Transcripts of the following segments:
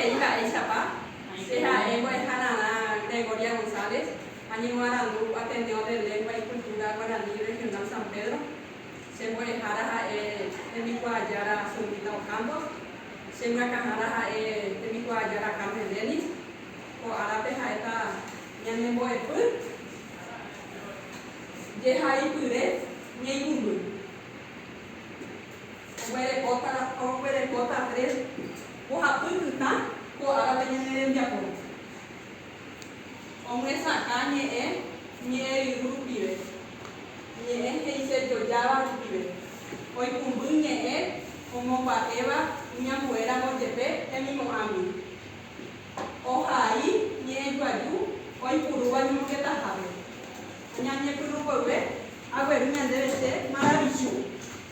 He'i mba'éichapa, Che ha'e mbo'eha rarã Gregoria González ha ñemoarandu Ateneo de Lengua y Cultura Guaraní Regional San Pedro. Che mbo'ehára ha'e tembikuaajára Zulmita Ocampos. Che mbyakãhára ha'e tembikuaajára Carmen Dennis. Ko árape ha'éta ñanembo'epy jehaipyre ñeikũmby. Oguerekóta la oguerekóta tre mbohapy kytã ko árape ñane rembiapo omyesakã ñe'ẽ ñe'ẽryru rupive, ñe'ẽ he'isejojáva rupive, oikũmby ñe'ẽ omomba'éva iñambuéramo jepe hemimo'ãgui, ohai ñe'ẽjoaju oipurúva ñemongetahápe, oñañepyrũmboyve agueru ñandéve che maravichu.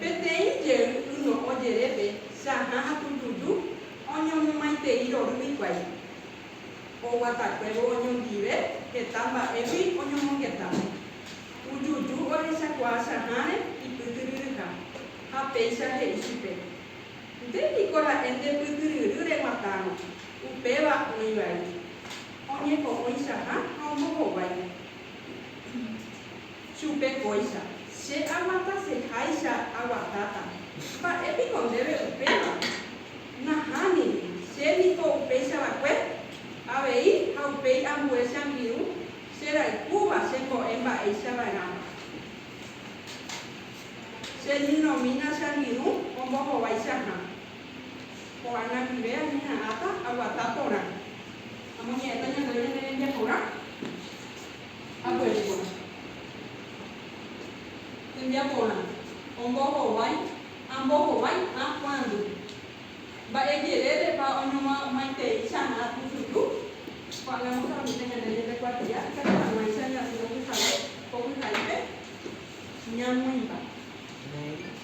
Peteĩ jey yno'õ jerépe Jahã ha Tujuju oñomomaitei rory hikuái. Oguatakuévo oñondive heta mba'égui oñomongeta. Tujuju ohechakuaa Jahãre ipytyryryha ha péicha he'i chupe, Nde piko ra'e nde pytyryry reguatárõ, upéva oĩ vai. Oñepo'õi Jahã ha ombohovái. chupe kóicha, Che aguataseháicha aguatáta, mba'e piko ndéve upéva? Nahániri, che niko upéichava'ekue, avei ha upéi ambue che angirũ che rayhúva che mbo'e mba'éicha va'erãva. Che ñyrõmína che angirũ ombohovaicha hã. Ko'ág̃a ndive añeha'ãta aguata porã. Amoñe'ẽta ñandéve ñane rembiaporã aguere porã. Tembiaporã ombohovái, ambohovái ã kuãndu. Mba'e jerérepa oñomomaiteicha ã pyhyju? Ko'ág̃a amosaramíta ñande ñande kuatia ikatu hag̃uáicha ñasy okyhavy ko pyharípe ñamoĩmba.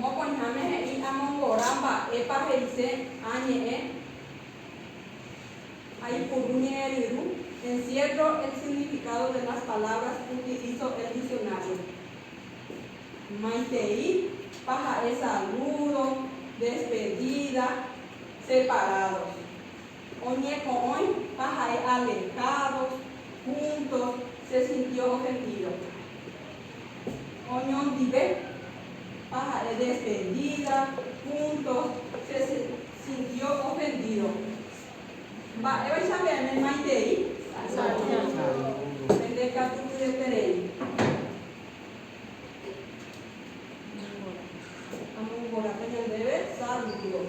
Mokõiháme he'i amongora mba'épa he'ise añe'ẽ aipuru ñe'ẽ ryru, encierro el significado de las palabras utilizo el diccionario. Maitei pa ha'e saludo, despedida, separados. oñeko'õi ha ha'e alertados, juntos, se sintió ofendido. Oñondive ha ha'e defendida, juntos, se sintió ofendido. Mba'évaicha peẽme maitei? Pende katu pyeterei. Amongoráta ñandéve saludos.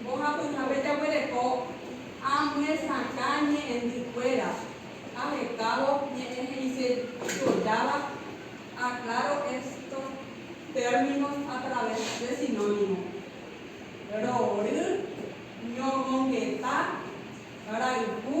Mbohapyhápe jaguereko amyesakã ñe'ẽndykuéra ahekávo ñe'ẽ he'ise jojáva Aclaro estos términos a través de sinónimos, rory, ñomongeta, rayhu.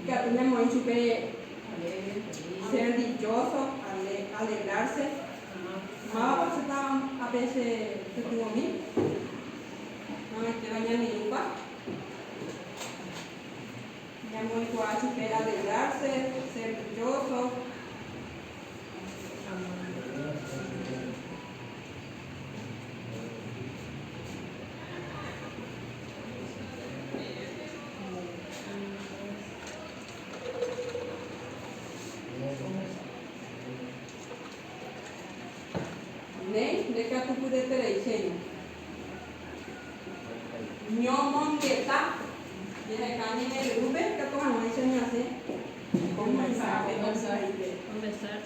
Ikatu ñamoĩ chupe serdilloso, alegrarse. Mávapa che táva ápe che pytyvõmi? Noĩitéva ñaneĩpa. Ñamoĩkuaa chupe alegrarse, serdilloso. Ne ndekatupyretereiséiva ñomongeta jaheka ñane ryrúpe katu hag̃uáicha ñasẽ ko mensáhe.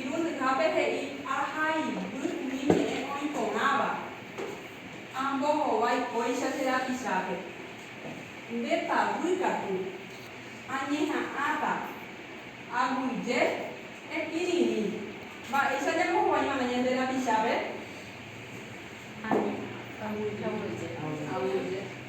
Irundyhápe he'i ahayhu umi ñe'ẽ oĩ porãva, Ambohovái kóicha che rapichápe. Nde pavy katu, añeha'ãta, aguyje, ekirirĩ. Mba'éicha ñambohovaiva'erã ñande rapichápe? Añeha'ãta, aguyje, ekirirĩ.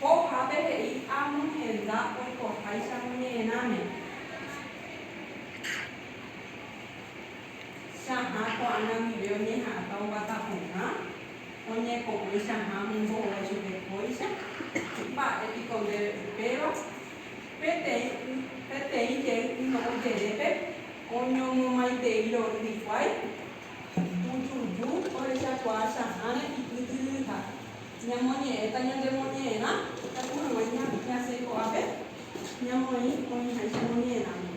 Ko'ápe he'i Amón henda oikoháicha ñoñe'ẽrãme. Chahã ko'ã namive oñeha'ãta oguata porã, oñepo'ỹ chahã mombo'e chupe kóicha. Mba'e piko ndéve upéva? Peteĩ y, peteĩ jey yno'õ jerépe, oñomomaitei ro'y hikuái, Ipytuju orechakuaa cha'ãre ipytyryha. Ñamoñe'ẽta ñandemoñe'ẽrã katu hag̃ua ñasẽ ko'ápe ñamoĩ oĩháicha ñamoñe'ẽrãme.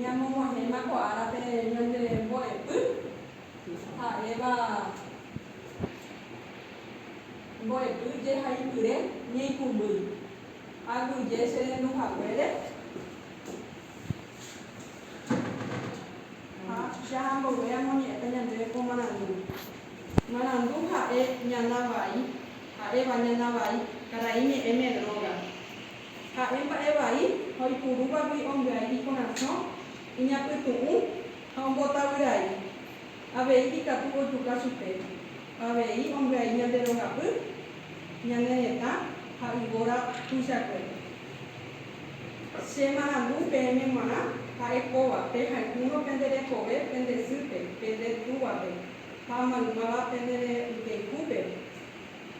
Ñamomahéma ko árape ñande mbo'epy, ha'éva mbo'epy jehaipyre ñeikũmbýi. Aguyje che rendu haguére. Ha jahambove amoñe'ẽta ñandéve ko marandúgui. Marandu ha'e ñana vai, ha'éva ñana vai karai ñe'ẽme dróga. Ha'e mba'e vai ha oipurúvagui ombyai ikorasõ, iñapytu'ũ ha ombotavyrái. Avei ikatu ojuka chupe. Avei ombyai ñande rogapy, ñane retã ha yvóra tuichakuépe. Che marandu peẽme g̃uarã ha'e kóva, pehayhúrõ pende rehove pende sýpe, pende túvape, ha maymáva pende reinteykúpe,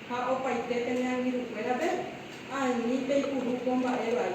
ha opaite pene angirũkuérape, ani peipuru ko mba'e vai.